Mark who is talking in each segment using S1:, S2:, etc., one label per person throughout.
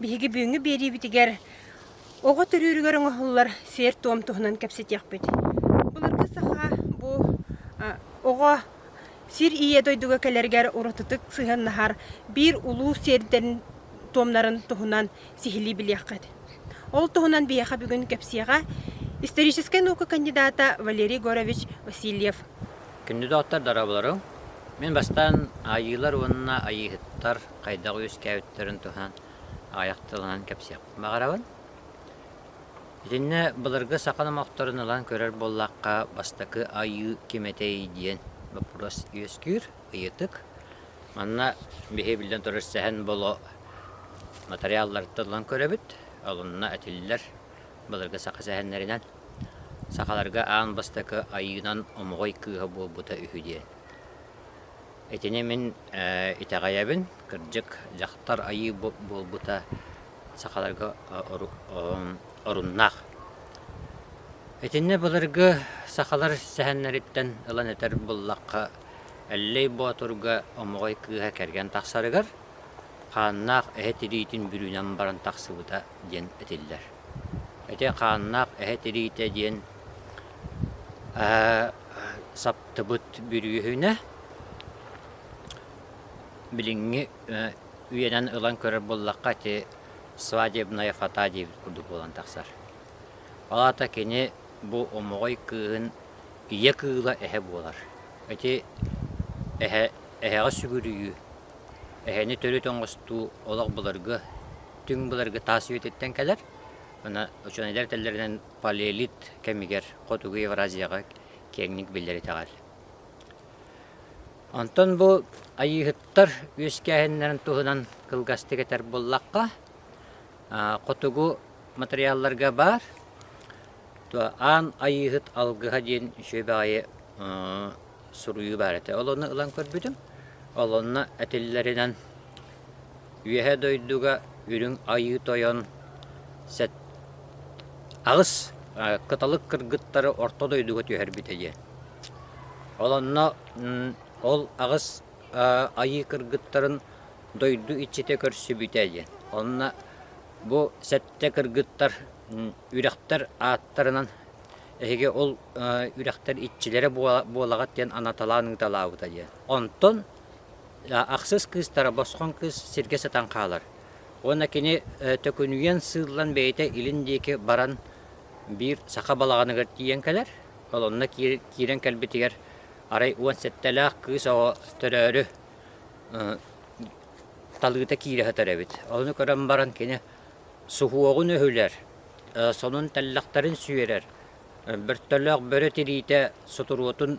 S1: Биһиги бүгүҥҥү биэриибитигэр оҕо төрүүрүгэр оҥоһуллар сиэр-туом туһунан кэпсэтиэхпит. Былыргы саха бу оҕо сир ийэ дойдуга кэлэригэр уратытык сыһыаннаһар биир улуу сиэрдэрин туомнарын туһунан сиһилии билиэххит. Ол туһунан биһиэхэ бүгүн кэпсиэҕэ историческай наука кандидата Валерий Горович Васильев. Кандидаттар дорооболоруҥ. Мин бастаан Айыылар уонна Айыыһыттар хайдах үөскээбиттэрин туһунан аҕыйах тылынан кэпсиэхпин баҕарабын. Итиннэ былыргы саха номохторун ылан көрөр буоллахха, бастакы айыы ким этэй диэн боппуруос үөскүүр, ыйытык. Манна биһи биллэн турар сэһэн боло матырыйаалларыттан ылан көрөбүт, олунна этиллэр былыргы саха сэһэннэринэн. Сахаларга аан бастакы айыынан омоҕой кыыһа буолбута үһү диэн. Итини мин итэҕэйэбин. Кырдьык, дьахтар айыы буолбута сахаларга оруннаах. Итиннэ былыргы сахалар сэһэннэриттэн ылан этэр буоллахха, Эллэй Боотурга омоҕой кыыһа кэргэн тахсарыгар хааннаах эһэ тириитин бүрүүнэн баран тахсыбыта диэн этиллэр. Ити хааннаах эһэ тириитэ диэн саптыбыт бүрүөһүнэ билиҥҥи үйэнэн ылан көрөр буоллахха ити свадебная фата диэбит курдук буолан тахсар. Ол аата кини бу омоҕой кыыһын ийэ кыыла эһэ буолар. Ити эһэ, эһэҕэ сүгүрүйүү, эһэни төрүт оҥостуу олох былыргы, түҥ былыргы таас үйэтиттэн кэлэр. Аны учуонайдар этэллэринэн палеолит кэмигэр Хотугу Евразияҕа киэҥник биллэр итэҕэл. Онтон бу айыыһыттар үөскээһиннэрин туһунан кылгастык этэр буоллахха, хотугу матырыйаалларга баар аан айыыһыт алгыһа диэн үчүгэй баҕайы суруйуу баар этэ. Ол онно ылан көрбүтүм. Ол онно этиллэринэн Үөһэ дойдуга үрүҥ айыы тойон сэт аҕыс кыталык кыргыттары орто дойдуга түһэрбитэ диэн. Ол онно ол аҕыс айыы кыргыттарын дойду иччитэ көрсүбүтэ диэн. Онно бу сэттэ кыргыттар үрэхтэр ааттарынан Эһиги ол үрэхтэр иччилэрэ буолаҕыт диэн анаталаан ыыталаабыта диэн. Онтон ахсыс кыыстара босхоҥ кыыс сиргэ сытан хаалар. Уонна кини төкүнүйэн сыыллан бэйэтэ илин диэки баран биир саха балаҕаныгар тиийэн кэлэр. Колонна киирэн кэлбитигэр арай уон сэттэлээх кыыс оҕо төрөөрү талыыта киирэ сытар эбит. Ону көрөн баран кини суһуоҕун өһүлэр, сонун тэллэхтэрин сүөрэр, бөртөлөөх бөрө тириитэ сутуруотун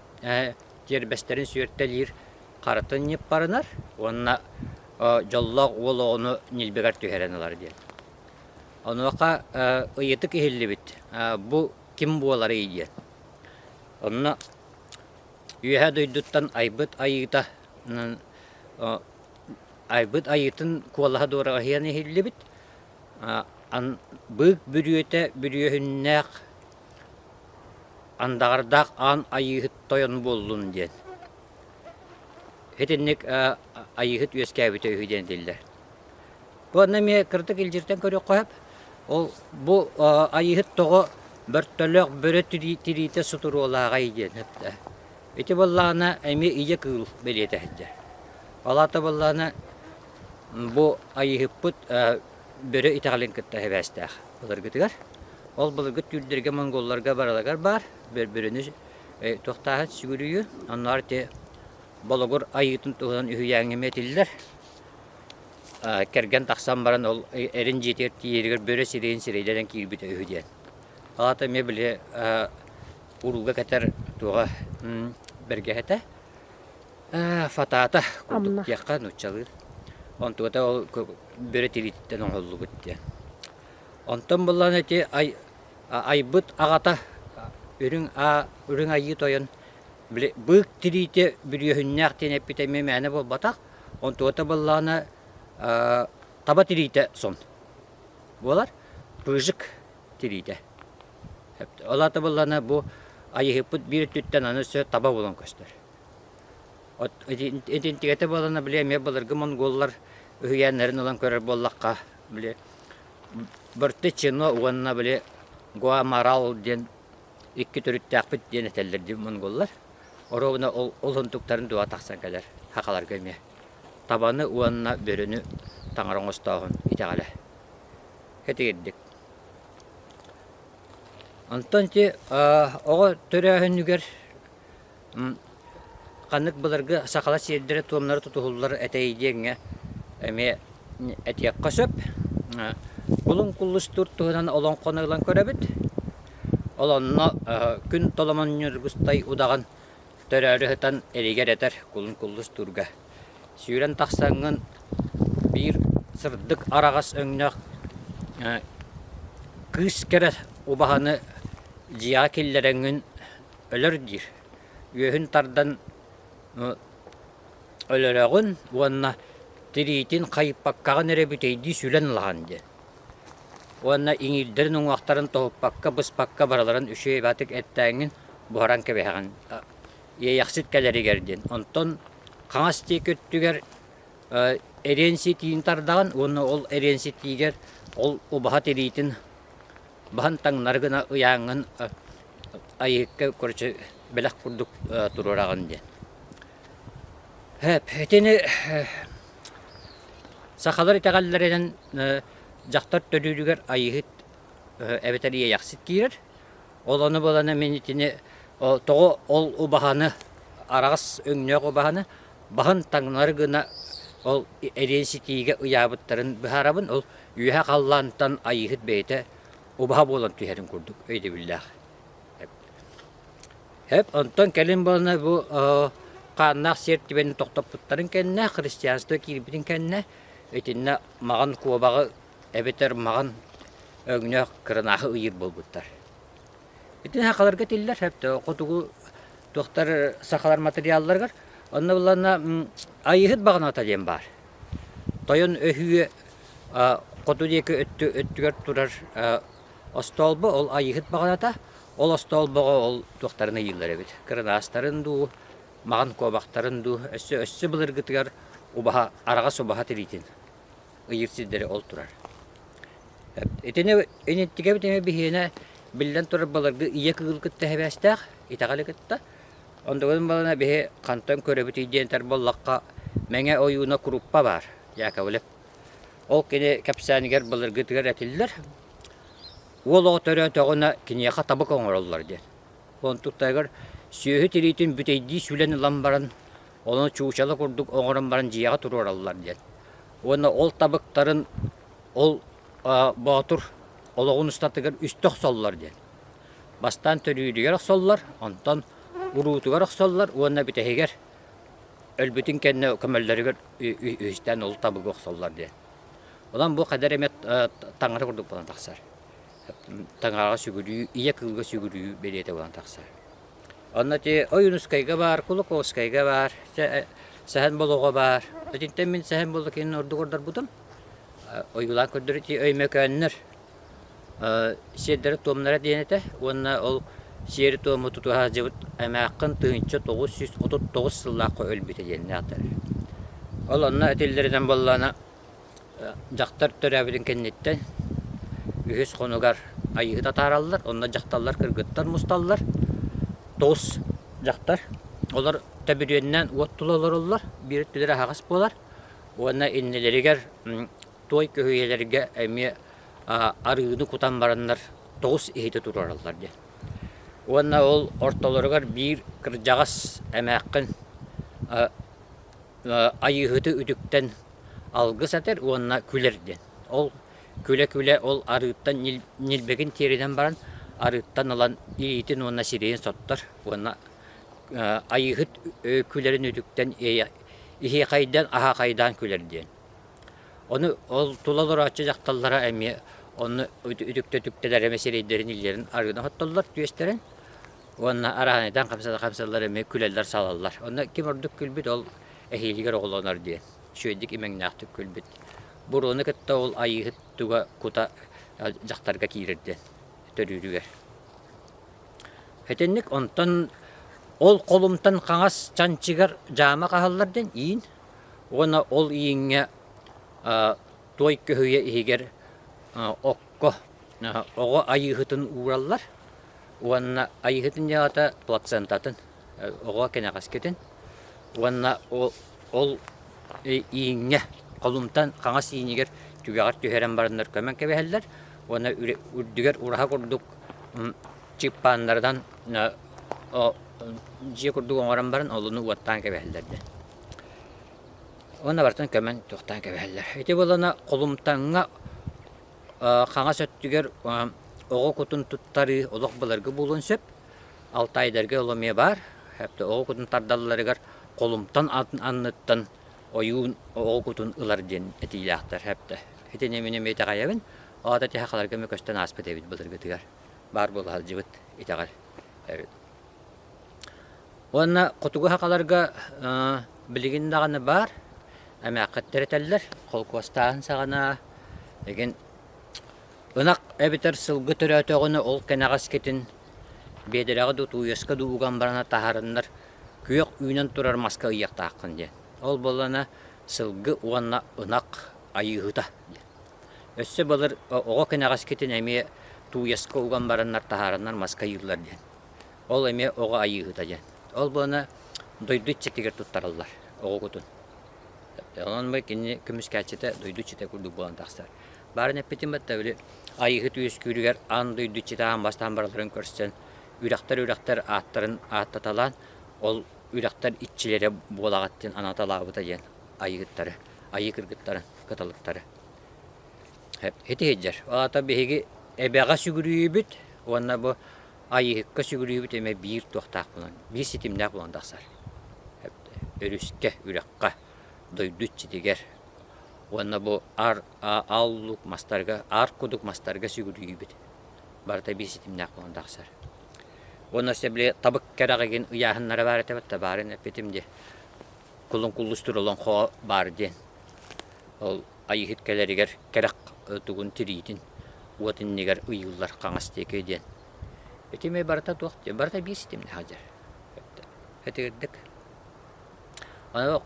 S1: тиэрбэстэрин сүөртэлиир харатын ньыппарынар уонна дьоллоох уол оҕону ньилбэгэр түһэрэн ылар диэн. Онуоха ыйытык иһиллибит бу ким буоларый диэн. Онно Үөһээ дойдуттан айбыт айыыта айбыт айыытын куолаһа дуораҕаһыйан иһиллибит. быык бүрүөтэ бүрүөһүннээх андаҕардаах аан айыыһыт тойон буоллун диэн итинник айыыһыт үөскээбитэ үһү диэн этиллэр уонна эмиэ кырдык илдьиртэн көрүөххэ сөп ол бу айыыһыт тоҕо бөртөлөөх бөрө тириитэ сутуруолааҕай диэн ити буоллаҕына эмиэ ийэ кыыл бэлиэтэ сылдьар ол аата буоллаҕына Бу Айыыһыппыт бөрө итэҕэлин кытта сибээстээх былыргытыгар. Ол былыргы түүрдэргэ, монголларга барылагар баар бөрөнү туохтааһын сүгүрүйүө. Оннугар ити Болугур Айыытын туһунан үһүйээҥҥэ этиллэр. Кэргэн тахсан баран ол эрин дьиэтигэр тиийэригэр бөрө сирэйин сирэйдэрин киирбитэ үһү диэн. Аата эмиэ били урууга кэтэр туоҕа бэргэһэтэ. Фатата курдук диэххэ нууччалыы. Онтугата ол бөрө тириититтэн оҥоһуллубут диэн. Онтон буоллаҕына ити айбыт аҕата үрүҥ аа үрүҥ айыы тойон били быык тириитэ бүрүөһүннээх диэн эппитэ эмиэ мээнэ буолбатах. Онтугата буоллаҕына таба тириитэ сон буолар. Пыжик тириитэ. Ол аата буоллаҕына бу айыыһыппыт биир өттүттэн аны өссө таба буолан көстөр. Итинтигэтэ буолана, били эмиэ былыргы монголлар үһүйээннэрин ылан көрөр буоллахха, били бырты чино уонна били гуамарал диэн икки төрүттээхпит диэн этэллэр дии монголлар. Оруобуна ол олунтуктарын дуо тахсан кэлэр сахаларга эмиэ. Табаны уонна бөрөнү таҥара оҥостооһун итэҕэлэ. Итигирдик. Онтон ити оҕо төрөөһүнүгэр Ханнык былыргы сахалар сиэрдэрэ-туомнара тутуһуллар этэй диэҥҥэ эмиэ этиэххэ сөп. Кулун куллустуур туһунан олоҥхону ылан көрөбүт. Олонно күн толомон ньургустай удаҕан төрөөрү сытан илигэр этэр кулун куллустуурга. Сүүрэн тахсаҥҥын биир сырдык араҕас өҥнөөх кыыс кэрэ убаһаны дьиэҕэ киллэрэҥҥин өлөр диир. Үөһүн тардан өлөрөҕүн уонна тириитин хайыппаккаҕын эрэ бүтэйдии сүлэн ылаҕын диэн. Уонна иҥиирдэрин уҥуохтарын тоһуппакка, быспакка барыларын үчүгэйбатык эттээҥҥин буһаран кэбиһэҕин. Иэйэхсит кэлэригэр диэн. Онтон хаҥас диэки өттүгэр эриэн ситиини тардаҕын уонна ол эриэн ситиигэр ол убаһа тириитин Баһын таҥнары гына ыйааҥҥын айыыкка, короче, бэлэх курдук туруораҕын диэн. Итини сахалар итэҕэллэринэн дьахтар төрүүрүгэр айыыһыт эбэтэр иэйэхсит киирэр. Ол ону булана мин итини тоҕо ол убаһаны, араҕас өҥнөөх убаһаны баһын таҥнары гына ол эриэн ситиигэ ыйаабыттарын быһаарабын. Ол Үөһэ халлаантан айыыһыт бэйэтэ убаһа буолан түһэрин курдук өйдөбүллээх. Хэп, онтон кэлин буолана бу хааннаах сиэр түбэни тохтоппуттарын кэннэ, христианство киирбитин кэннэ, итиннэ маҕан куобаҕы эбэтэр маҕан өҥнөөх кырынааһы ыйыыр буолбуттар. Ити сахаларга тиллэр сөптөөх хотугу туохтар сахалар материалларыгар. Онно буланна айыһыт баҕаната диэн баар. Тойон өһүө хоту диэки өттүгэр турар остуолба ол айыһыт баҕаната. Ол остуолбаҕа ол туохтарын ыйыыллар эбит. Кырынаастарын дуу, маҕан куобахтарын дуу өссө өссө былыргытыгар убаһа араҕас убаһа тириитин. ыйыыр сирдэри ол турар. Итини иниттигэбит эмэ биһиэнэ биллэн турар баларга ийэ кыгыл кытта эбээстээх итэҕэли кытта ондогон балана биһи хантан көрөбүтүй диэнтэр боллахха мэҥэ ойууна куруппа баар Яковлев ол кини кэпсээнигэр былыргытыгар этиллэр уол оҕо төрөөтөҕүнэ киниэхэ табык оҥороллор диэн онтуктайгар сүөһү тириитин бүтэйдии сүлэн ылан баран Ону чуучала курдук оҥорон баран дьиэҕэ туруораллар диэн. Уонна ол табыктарын ол боотур олоҕун устатыгар үстэ охсоллор диэн. Бастаан төрүүрүгэр охсоллор, онтон уруутугар охсоллор уонна бүтэһигэр өлбүтүн кэннэ көмөллөрүгэр үһүстээн ол табыгы охсоллор диэн. Онон бу хайдах эмэ таҥара курдук буолан тахсар. таҥараҕа сүгүрүү, ийэ кылга сүгүрүү бэлиэтэ буолан тахсар. Онно ити Ойуунускайга баар, Кулаковскайга баар, Сэһэн Болоҕо баар. Итинтэн мин Сэһэн Болокинын ордук ордорбутум. Ойуулаан көрдөр ити Өймөкөөннөр сиэрдэрэ-туомнара диэн этэ уонна ол сиэри-туому туту сылдьыбыт эмээххин тыһыынча тоҕус сүүс отут тоҕус сыллаахха өлбүтэ диэн ааттанар. Ол онно этиллэринэн буоллаҕына Дьахтар төрөөбүтүн кэнниттэн үһүс хонугар айыыһыт атаараллар, онно дьахталлар кыргыттар мусталлар. Тоҕус дьахтар, олор төбүрүөннээн уот тула олороллор, биир өттүлэр аһаҕас буолар уонна иннилэригэр туой көһүйэлэргэ эмиэ арыыны кутан бараннар тоҕус иһити туруораллар диэн. Уонна ол ортолоругар биир кырдьаҕас эмээххин Айыыһыты үтүктэн алгыс этэр уонна күлэр диэн. Ол күлэ-күлэ ол арыыттан ньилбэгин тиэринэн баран арыыттан ылан илиитин уонна сирэйин соттор уонна айыыһыт күлэрин үтүктэн иһиэхэйдээн аһаахайдаан күлэр диэн. Ону ол тула олорооччу дьахталлара эмиэ онно үтүктэ-үтүктэлэр эмэ сирэйдэрин, иллэрин арыынан оттоллор түөстэрин Уонна араһанайтан хапсаллар эмиэ күлэллэр-салаллар. Онно ким ордук күлбүт ол эһиилигэр оҕолонор диэн. Үчүгэйдик имэҥнээхтик күлбүт. Буруону кытта ол Айыыһыт туга кута дьахтарга киирэр диэн төрүүрүгэр. Итинник онтон ол холумтан хаҥас чанчыгар дьаама хаһаллар диэн иин уонна ол ииҥҥэ туой көһүйэ иһигэр оҕо айыыһытын уураллар уонна айыыһытын дьаҕата плацентатын оҕо кэнэҕэскитин уонна ол ииҥҥэ холумтан хаҥас ииñигэр түгэҕэр түһэрэн бараннар көмөн кэбиһэллэр уонна үрдүгэр ураһа курдук чыыппааннарынан дьиэ курдук оҥорон баран олуну уоттаан кэбиһэллэр дии Уонна бартан көмөн туохтаан кэбиһэллэр. Ити буолана Холумтаҥҥа хаҥас өттүгэр оҕо кутун туттарыы олох былыргы буолуон сөп. Алтаайдарга ол эмиэ баар. Оҕо кутун тардалларыгар Холумтан анныттан ойуун оҕо кутун ылар диэн этиилээхтэр. Итини мин эмиэ итэҕэйэбин. Ол аата ити сахаларга эмиэ көстөн ааспыт эбит былыргытыгар. Баар буола сылдьыбыт итэҕэл. Уонна хотугу хахаларга билигин даҕаны баар эмээххиттэр этэллэр холкуостааһын саҕана игин ынах эбэтэр сылгы төрөөтөҕүнэ ол кэнэҕэскитин биэдэрэҕэ да утуйуоска да уган барана таһаарыннар күөх үүнэн турар маска ыйыахтааххын диэн. Ол буоллана сылгы уонна ынах айыыһыта диэн. Өссө былыр оҕо кэнэҕэскитин эмиэ тууйаска уган бараннар таһаарыннар маска ыйыыллар диэн. Ол эмиэ оҕо айыыһыта диэн. Ол буолана дойду иччитигэр туттараллар оҕугутун. Онон бу кини көмүскээччитэ дойду иччитэ курдук буолан тахсар. Баарын эппитим бытта били айыыһыт үөскүүрүгэр аан дойду иччитэ аан бастаан барыларын көрсөн үрэхтэр үрэхтэр ааттарын ааттаталаан ол үрэхтэр иччилэрэ буолаҕат диэн анааталаабыта диэн айыыһыттары, айыы кыргыттарын кыталыктары. Ити сылдьар. Ол аата биһиги эбэҕэ сүгүрүйүбүт уонна бу Айыыһыкка сүгүрүйүбүт эмэ биир туохтаах булан, биир ситимнээх булан тахсар. Өрүскэ, үрэххэ, дойду иччитигэр уонна бу аар ааллук мастарга, аар кудук мастарга сүгүрүйүүбүт барыта биир ситимнээх буолан тахсар. Уонна өссө били табык кэрэҕигин ыйааһыннара баар этэ да баарын эппитим дии. кулун куллус тур олоҥхоҕо баар диэн. Ол Айыыһыт кэлэригэр кэрэх тугун тириитин уот иннигэр ыйыыллар хаҥас диэки диэн. Итими барыта туох диэн, барыта биир ситимнээх дьэр. Ытыырдык.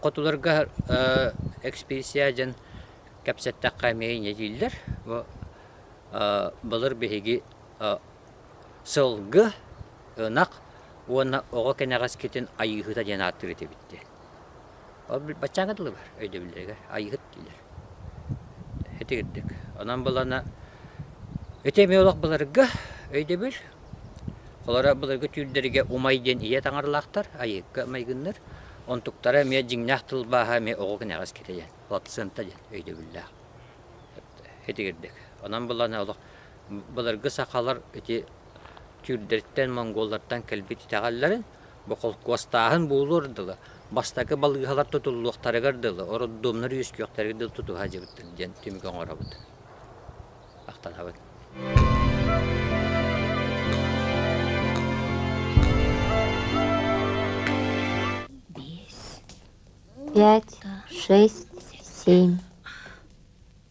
S1: Хотуларга экспедиция дьэн кэпсэттэххэ эмиэ иньэ дииллэр. Бу былыр биһиги Сылгы, ынах уонна оҕо кэнэҕэскитин айыыһыта диэн ааттыыр этибит диэн. Ол баччааҥҥа дылылар өйдөбүллэригэр айыыһыт диилэр. Итирдик. Онон булана ити эмиэ олох былыргы өйдөбүл. Холоро былыргы түүрдэргэ умай диэн ийэ таҥаралаахтар айыыкка майгынныр. Онтуктара эмиэ дьиҥнээх тылбааһа эмиэ оҕо кэнэҕэскитэ диэн, плацента диэн өйдөбүллээх. Итирдик. Онон булана олох Былыргы сахалар ити түүрдэриттэн, монголлартан кэлбит итэҕэллэрин боколкуостааһын буолуор дылы, бастакы балыыһалар тутуллуохтарыгар дылы, роддомнар үөскүөхтэригэр дылы тутуһа илдьибиттэр диэн түмүкү оҥоробут. Махтанабыт. Пять, шесть, семь.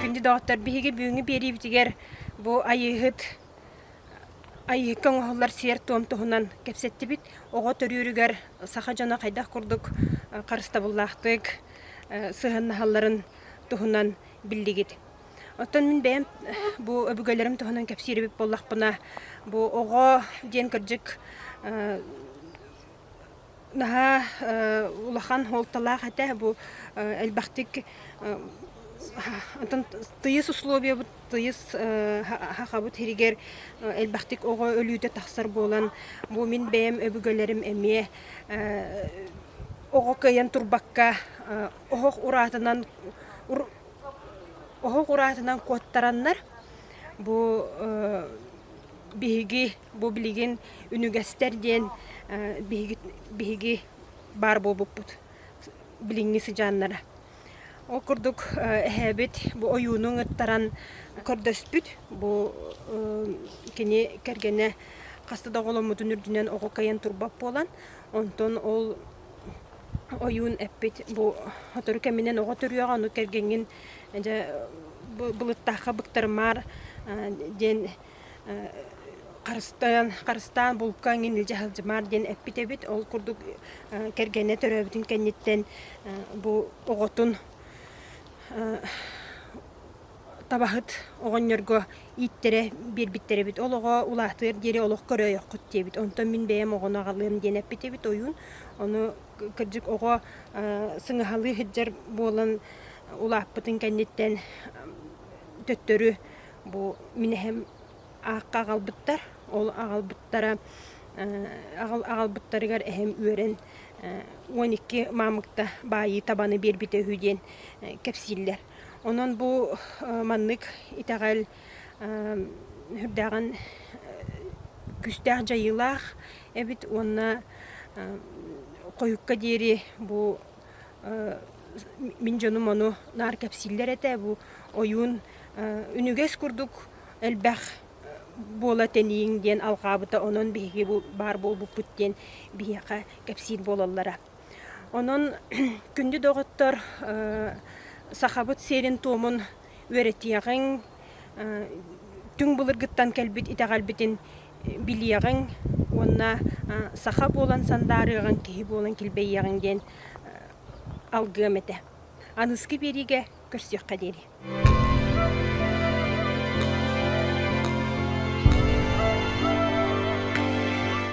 S1: Күндү доҕоттор, биһиги бүгүҥҥү биэриибитигэр бу Айыыһыт Айыыка оҥоһуллар сиэр-туом туһунан кэпсэттибит. Оҕо төрүүрүгэр саха дьоно хайдах курдук харыстабыллаахтык сыһыаннаһалларын туһунан биллигит. Оттон мин бэйэм бу өбүгэлэрим туһунан кэпсиир эбит буоллахпына, бу оҕо диэн кырдьык наһаа улахан суолталаах этэ бу элбэхтик антон тыйыс условиябыт тыйыс хахабыт иһигэр элбэхтик оҕо өлүүтэ тахсар буолан бу мин бэйэм өбүгэлэрим эмиэ оҕо кыайан турбакка оһох ураатынан оһох ураатынан куоттараннар бу биһиги Бу билигин үнүгэстэр диэн биһиги баар буолбуппут билиҥҥи сыдьааннара. Ол курдук эһээбит бу ойуунун ыттаран көрдөспүт. Бу кини кэргэнэ хаста да оҕоломмутун үрдүнэн оҕо кыайан турбат буолан, онтон ол ойуун эппит бу сотору кэминэн оҕо төрүөҕэ, ону кэргэҥҥин дьэ былыттаахха быктарымаар диэн харыстайан харыстаан булка эҥин илдьэ сылдьымаар диэн эппит эбит ол курдук кэргэнэ төрөөбүтүн кэнниттэн бу оҕотун табаһыт оҕонньорго ииттэрэ биэрбиттэр эбит ол оҕо улаатыар диэри олох көрөөйөххүт диэбит онтон мин бэйэм оҕону аҕалыам диэн эппит эбит ойуун ону кырдьык оҕо сыҥаһалыы сылдьар буолан улааппытын кэнниттэн төттөрү Бу мин эһэм аахха аҕалбыттар. Ол аҕалбыттара аҕалбыттарыгар эһэм үөрэн уон икки маамыкта баайыы табаны биэрбитэ үһү диэн кэпсииллэр. Онон бу маннык итэҕэл сүрдээҕин күүстээх дьайыылаах эбит уонна хойукка диэри бу мин дьонум ону наар кэпсииллэр этэ бу ойуун үнүгэс курдук элбэх буола тэнийиҥ диэн алҕаабыта онон биһиги бу баар буолбуппут диэн биһиэхэ кэпсиир буолаллара онон күндү доҕоттор сахабыт сиэрин туомун үөрэтиэҕиҥ, түҥ былыргыттан кэлбит итэҕэлбитин билиэҕиҥ уонна саха буолан сандаарыаҕыҥ, киһи буолан килбэйиэҕиҥ диэн алгыам этэ. Аныскы биэриигэ көрсүөххэ диэри.